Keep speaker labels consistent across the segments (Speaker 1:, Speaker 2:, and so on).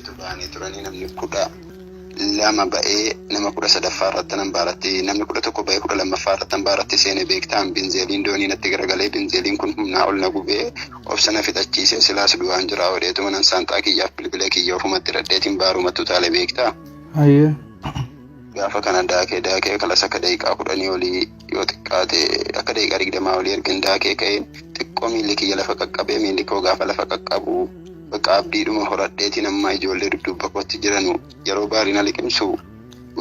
Speaker 1: tu ba'anii turanii namni kudha lama ba'ee nama kudha sadaffaa irratti nan baaratti namni kudha tokko ba'ee kudha lammaffaa irratti nan baaratti seene beektaan binzeeliin doonii natti garagalee binzeeliin kun humnaa ol na gubee obsa na fixachiisee silaas du'aan jiraa hodheetuma nan saanxaa kiyyaaf bilbila kiyya ofumatti dhadheetiin baarumatu taale beektaa. Hayyee. gaafa kana daakee daakee kalasa akka daqiiqaa kudhanii olii yoo xiqqaate akka daqiiqaa digdamaa olii erga hin daakee ka'een xiqqoo miilli kiyya lafa qaqqabee miilli koo gaafa lafa qaqqabu bakka abdiidhuma horadheetiin amma ijoollee dudduuba kootti jiranu yeroo baarii na liqimsu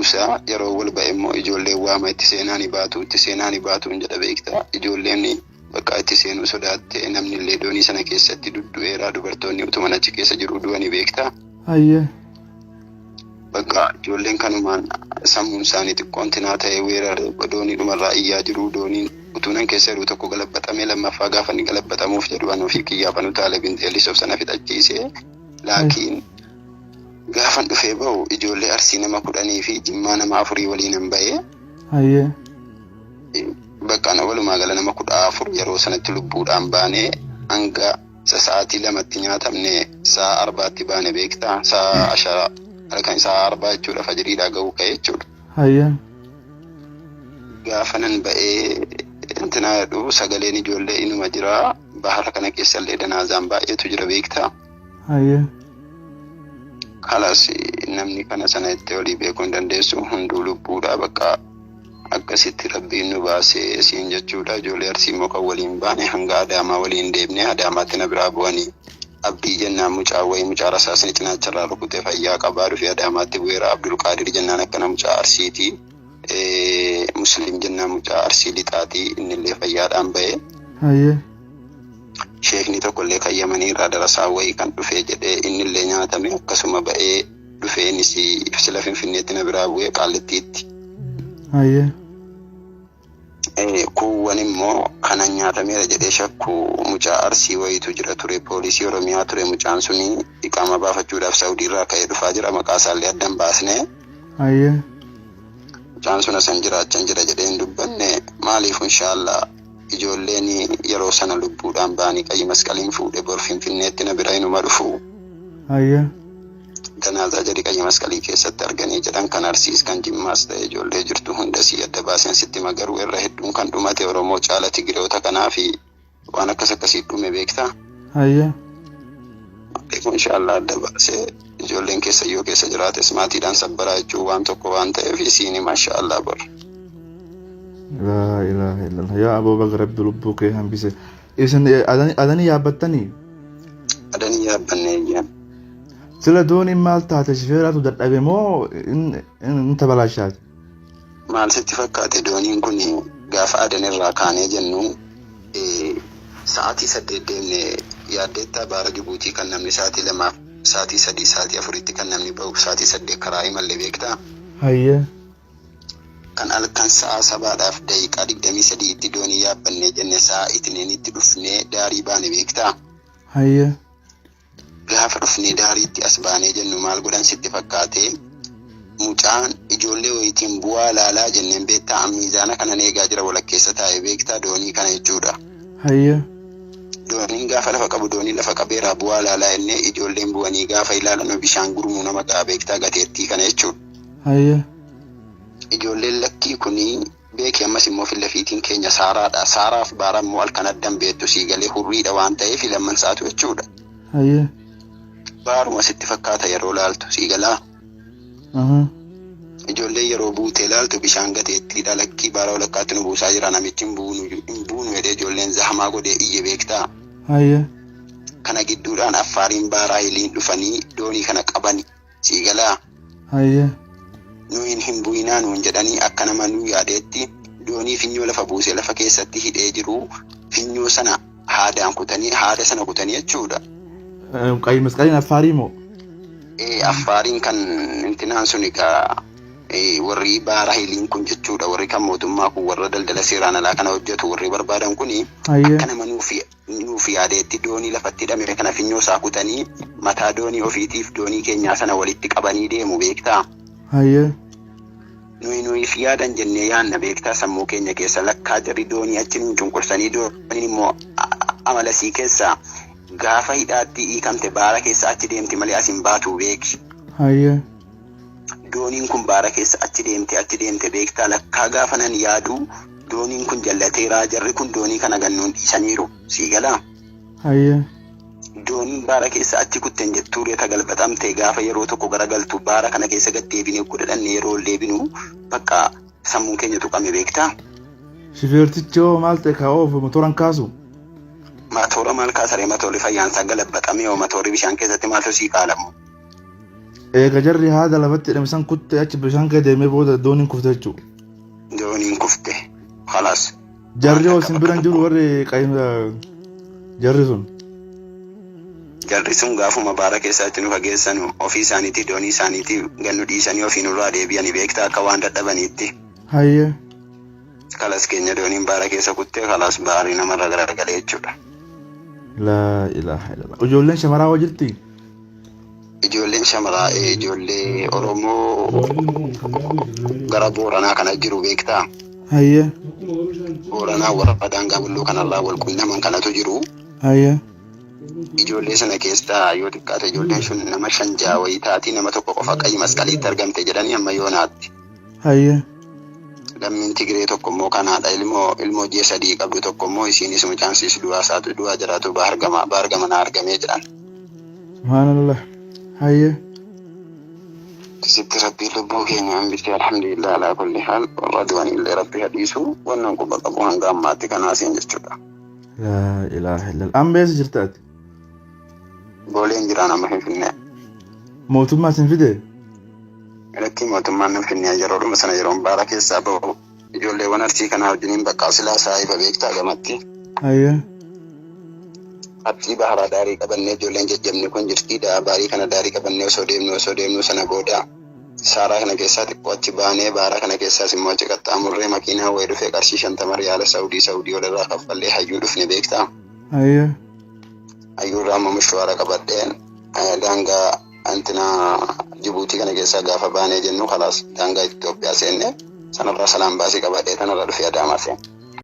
Speaker 1: usa yeroo wal ba'e immoo ijoolleen waama itti seenaa ni baatu itti seenaa ni baatu hin jedha beekta ijoolleen Bakka itti seenuu sodaatte, namnillee doonii sana keessatti duddu'eera, dubartoonni utuman achi keessa jiruu du'anii beektaa? Hayyee. Bakka ijoolleen kanumaan sammuun isaanii xiqqoon tinaa ta'ee weerare doonii dhumarraa iyyaa jiruu dooniin utuunan keessa jiruu tokko galabbaxamee lammaffaa gaafa inni galabbaxamuuf jedhu an ofii kiyyaaf anu taale binxeellis of sana fixachiisee laakiin gaafan dhufee ba'u ijoollee arsii nama kudhanii fi jimmaa nama afurii waliinan ba'ee Hayyee. Baqqaan walumaa gala nama kudha afur yeroo sanatti lubbuudhaan baane hanga isa sa'aatii lamatti nyaatamne sa'a arbaatti baane beekta sa'a ashara halkan sa'a arbaa jechuudha fajiriidhaa ga'uu ka'e jechuudha. Hayyee. Gaafa nan ba'ee intinaa jedhu sagaleen ijoollee inuma jira bahara kana keessallee danaazaan baay'eetu jira beekta. Haye. Kalas namni kana sana itti olii beekuu hin dandeessu hunduu lubbuudha bakka akkasitti rabbiin nu baasee siin jechuudha ijoollee arsii immoo kan waliin baane hanga adaamaa waliin deemne adaamaatti na biraa bu'anii abdii jennaan mucaa wayii mucaa rasaasni cinaacha irraa rukutee fayyaa qabaa dhufee adaamaatti bu'eera abdulqaadir jennaan akkana mucaa arsiiti Eh, musliim jennaan mucaa arsii lixaati innillee fayyaadhaan ba'e Haye. Sheekni tokkollee kan Yamaniirraa darasaa wayii kan dhufee jedhee innillee nyaatamee akkasuma ba'ee dhufee innis sila Finfinneetti na biraa bu'ee Qaallittiitti. Hayyee. Kuuwwan immoo kanan nyaatameera jedhee shakku mucaa Arsii wayiitu jira ture poolisii Oromiyaa ture mucaan suni iqaamaa baafachuudhaaf Sawudiirraa ka'ee dhufaa jira maqaa isaallee adda hin baasne. Hayyee. Mucaan sun asan jira achan jira jedhee hin dubbanne maaliif inshaallaa ijoolleen yeroo sana lubbuudhaan ba'anii qayyi masqaliin fuudhe bor finfinneetti na bira inuma dhufu Hayyee. janaazaa jari qayyi masqalii keessatti arganii jedhan kan arsiis kan jimmaas ta'e ijoollee jirtu hunda sii adda baaseen sitti hima garuu irra hedduun kan dhumate oromoo caala tigireota kanaafi waan akkas akkasii dhume beektaa Hayyee. beeku inshaallah adda baasee Ijoolleen keessan yoo keessa jiraates maatiidhaan sabbaraa jechuun waan tokko waan ta'eef isiini maashaa Allah bor.
Speaker 2: Laa ilaaha illallah yaa aboo baga rabbi lubbuu kee hambise isin adanii yaabbattanii Adanii
Speaker 1: yaabbanne eeyyaan. sila
Speaker 2: dooniin maal taate shifeeraatu dadhabe moo in tabalaashaati Maal
Speaker 1: sitti fakkaate dooniin kun gaafa Aden irraa kaanee jennu sa'aatii saddeet deemne yaaddeettaa baara Jibuutii kan namni sa'aatii lamaaf sa'aatii sadii sa'aatii afuritti kan namni ba'uuf sa'aatii saddeet karaa imalle beektaa? Hayyee. Kan halkan sa'aa sabaadhaaf daqiiqaa digdamii sadii itti doonii yaabbannee jenne sa'aa itiniinitti dhufnee daarii baane beektaa? Hayyee. Gaafa dhufnee daariitti as baanee jennu maal godhan sitti fakkaate? Mucaan ijoollee wayiitiin bu'aa laalaa jenneen beektaa an miizaana kanan eegaa jira walakkeessa taa'e beektaa doonii kana jechuudha. Hayyee. Dooniin gaafa lafa qabu doonii lafa qabeeraa bu'aa laalaa jennee ijoolleen bu'anii gaafa ilaalanu bishaan gurmuu nama ga'a beektaa gateettii kana jechuudha. Hayyee. Ijoolleen lakkii kuni Beeki ammas immoo filla fiitiin keenya saaraadha. Saaraa fi baara immoo halkan adda hin beektu sii galee hurriidha waan ta'eef lamman isaatu jechuudha. Hayyee. Baaruma sitti fakkaata yeroo laaltu sii galaa. Ahaa. Ijoollee yeroo buutee laaltu bishaan gateettiidha lakkii baara walakkaatti nu buusaa jira namichi hin buunu hin buunu jedhee ijoolleen zahamaa godhee iyye beektaa. Hayyee. Kana gidduudhaan affaariin baaraa hiliin dhufanii doonii kana qabani. sii galaa Hayyee. nu hin hin bu'inaa nuun jedhanii akka nama nu yaadeetti doonii finyoo lafa buuse lafa keessatti hidhee jiru finyoo sana haadaan kutanii haada sana kutanii jechuudha. Eh, Qayi
Speaker 2: masqaliin affaarii moo? Eh, Affaariin
Speaker 1: kan intinaan sun egaa eh, warri baara hiliin kun jechuudha warri kan mootummaa kun warra daldala seeraan alaa kana hojjetu warri barbaadan kuni Hayyee. akka nama nuuf Inni nuuf yaadee itti doonii lafatti hidhame kana finyoo isaa kutanii mataa doonii ofiitiif doonii keenyaa sana walitti qabanii deemu beektaa? Hayyee. Nuyi nuyiif yaadan jennee yaanna beektaa sammuu keenya keessa lakkaa jarri doonii achi nuun cunqursanii dooniin immoo amala isii keessa gaafa hidhaatti hiikamte baara keessa achi deemti malee as hin baatu beeki. Hayyee. Dooniin kun baara keessa achi deemte achi deemte beektaa lakkaa gaafanan yaaduu dooniin kun jallateeraa jarri kun doonii kana gannuun dhiisaniiru sii galaa. Hayyee.
Speaker 2: Dooniin
Speaker 1: baara keessa achi kutten jettuu reta galbaxamte gaafa yeroo tokko gara galtu baara kana keessa gad deebine ugguu dhadhanne yeroo ol deebinu bakka sammuun keenya tuqame beektaa. Shifeertichi
Speaker 2: hoo maal ta'e kaa oofu motoran kaasu? Matoora
Speaker 1: maal kaasaree matoorri fayyaansaa galabbaxame hoo matoorri bishaan keessatti maaltu sii qaalamu.
Speaker 2: eega jarri haada lafatti hidhame san kutte achi bishaan kee deemee booda dooniin kufte jechuudha. dooniin
Speaker 1: kufte kalaas Jarri hoo
Speaker 2: isin biran jiru warri qayyimsa jarri sun.
Speaker 1: jarri sun gaafuma baara keessatti nu fageessan ofii isaaniitii doonii isaaniitii gannu dhiisanii ofii nurraa deebi'anii beektaa akka waan dadhabaniitti Hayyee. kalas keenya dooniin baara keessa kuttee kalas baarii namarra garagalee jechuudha. Laa
Speaker 2: ilaaha illallah. Ijoolleen shamaraa hoo jirti?
Speaker 1: ijoolleen shamaraa eh, ijoollee Oromoo gara Booranaa kana jiru beektaa? Hayyee. Booranaa warra daangaa bulloo kanarraa wal quunnaman kanatu jiru. Hayyee. Ijoollee sana keessaa yoo xiqqaate ijoolleen sun nama shan ja'a wayii taati nama tokko qofa qayyii masqaliitti argamte jedhanii amma yoo naatti. Hayyee. Lammiin Tigiree tokko immoo kan haadha ilmoo ilmoo ji'a sadii qabdu tokko immoo isiinis mucaan siis du'aa isaatu du'aa jiraatu Bahar Gama Bahar Gama naa argamee jedhan. Subhaanallah.
Speaker 2: Hayyee. Akkasitti
Speaker 1: rabbiin lubbuu keenya hambisee alhamdulillah alaa kulli haal warra du'an illee rabbi hadhiisu wannan quba qabu hanga ammaatti kanaasiin jechuudha. Laa
Speaker 2: ilaaha illallah. Amma eessa jirta ati?
Speaker 1: Booleen jiraan amma Finfinnee. Mootummaa
Speaker 2: isin fide?
Speaker 1: Irratti mootummaan nan Finfinnee yeroodhuma sana yeroon baara keessaa ba'u. Ijoolleewwan arsii kanaa wajjiniin bakka silaa saahiba beektaa gamatti. Ayyee. Abxii baharaa daarii qabannee ijoolleen jajjabni kun jirtii da'a baarii kana daarii qabannee osoo deemnu osoo deemnu sana booda saaraa kana keessaa xiqqoo achi baanee baara kana keessaas immoo achi qaxxaamurree makiinaa wayii dhufee qarshii shantama riyaala saawudii saawudii walirraa kaffallee hayyuu dhufne beektaa. Ayya. Ayyuurraa amma mishwaara qabadhee eh, daangaa antina Jibuutii kana keessaa gaafa baanee jennu kalaas daangaa Itoophiyaa seenne sanarraa salaan baasii qabadhee tanarra dhufee adaamaa seenne.